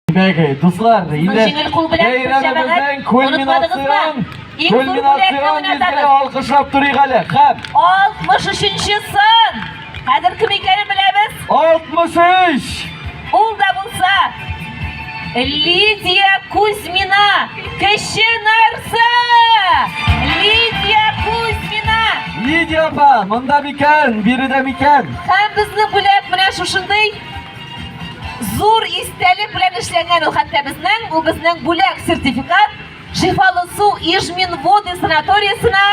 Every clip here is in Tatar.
Дәге, дуслар, инде җиңел кул белән бәйрәмебезнең кульминацион кульминацион мизгеле алкышлап торыйк әле. Хәп. 63-нче сын. Хәзер кем икәнен беләбез? 63. Ул да булса Лидия Кузьмина, кеше нарсы. Лидия Кузьмина. Лидия апа, монда микән, биредә микән? Һәм безне бүләк менә шушындый Зур истәлек белән эшләнгән ул хәтта безнең, бу безнең бүләк сертификат Шифалы су Ижмин воды санаториясенә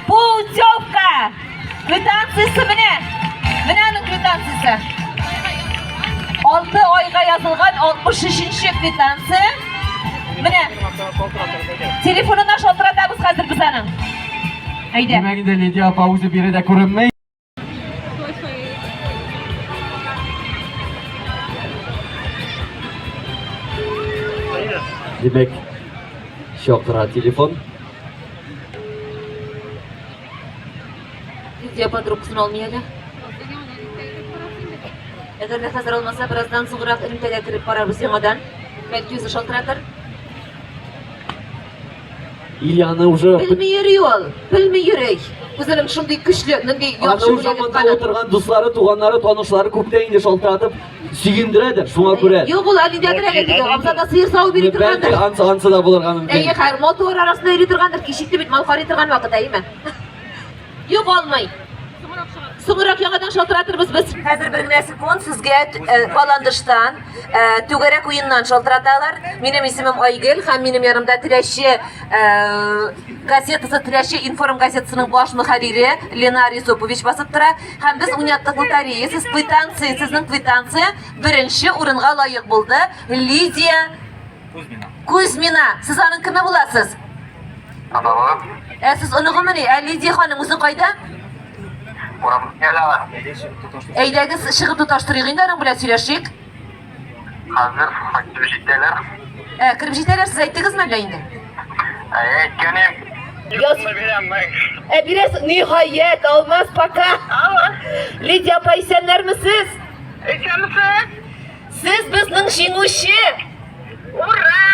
путевка квитанциясе менә. Менә аның квитанциясе. 6 айга язылган 63-нче квитанция. Менә. Телефонына шалтыратабыз хәзер без аның. Әйдә. Димәк инде Лидия апа үзе биредә күренми. Димәк, чакыра телефон. Видео подробкасын алмый әле. Әгәр дә хәзер алмаса, бераздан соңрак элемтәгә кереп карарбыз яңадан. Бәлки үзе шалтыратыр. И аны уже... Белми йөри ул, белми йөри. Үзенең шундый көчле, нинди яхшы Аны уже монда утырган дуслары, туганнары, танышлары күптә инде шалтыратып, сөендерәдер, шуңа күрә. Юк, ул әлидәдер әле диде, абзада сыер сау бери торгандыр. Ансы, ансы да булырга мөмкин. Әйе, хәр, мотор арасында йөри торгандыр, кичекте бит, мал карый торган вакыт, әйеме? Юк алмый. Соңрак яңадан шалтыратырбыз без. Хәзер бер генә секунд сезгә э, Баландыштан э, түгәрәк уеннан шалтыраталар. Минем исемем Айгел һәм минем ярымда Тирәче э, газетасы Тирәче информ газетасының баш мөхәррире Ленар Юсупович басып тора. Һәм без уйнаттык лотерея. Сез квитанция, сезнең квитанция беренче урынга лаек булды. Лидия Кузьмина. Кузьмина. Сез аның кеме буласыз? Анагы. Ә сез оныгымыни? Ә Лидия ханым үзе кайда? Урам ялага. Әйдәгез чыгып тоташтырыйк инде аның белән сөйләшик. Хәзер фактик җитәләр. Ә кереп җитәләр сез әйттегезме әллә инде? Ә әйткәнем. Яз... Ә бирәс ниһаять, алмаз пока. Алла. Лидия апа исәннәрме сез? Исәнмесез? Сез безнең җиңүче! Ура!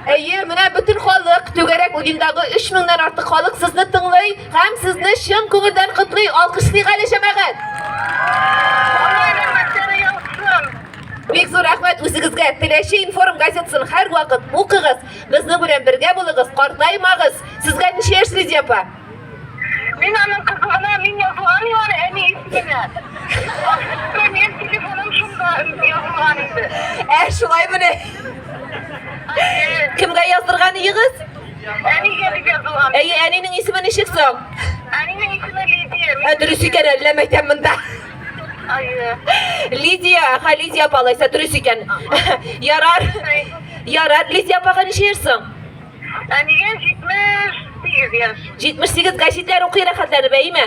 Әйе, менә бөтен халык, түгәрәк уендағы 3000ннан артык халык сезне тыңлый һәм сезне чын күңелдән котлый. Алкышлыйк әле, җәмәгать! Бик зур рәхмәт үзегезгә. Теләче информ газетасын һәрвакыт укыгыз, безнең белән бергә булыгыз, картаймагыз. Сезгә ничә яшь, Лидия апа? Мин аның кызы гына, мин язылган мин аны әни исеменнән. Мин телефоным шунда язылган инде. Ә шулай менә. Кемгә яздырган идегез? Әнигә дип язылган. Әйе, әнинең исеме ничек соң? Әнинең исеме Лидия. Ә дөрес икән, әллә мәйтәм монда. Әйе. Лидия, ха Лидия апа, алайса дөрес икән. Ярар. Ярар, Лидия апага ничә йөрсең? Әнигә 78 яшь. 78 гәҗитләр укый рәхәтләнеп, әйеме?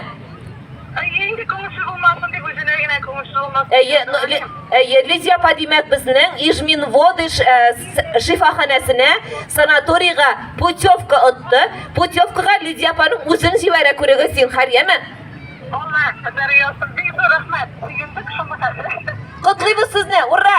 Әйе, инде күңелсез булмасын дип, үзенә генә күңелсез булмасын дип Әйе, яза әле. әйе, Лидия апа, димәк, безнең Ижминводы шифаханәсенә, санаторийга путевка отты. Путевкага Лидия апаның үзен җибәрә, күрегез, зинһар, яме? Алла, кадәр ясыз, бик зур рәхмәт. Сөендек шуны хәзер. Котлыйбыз сезне, ура!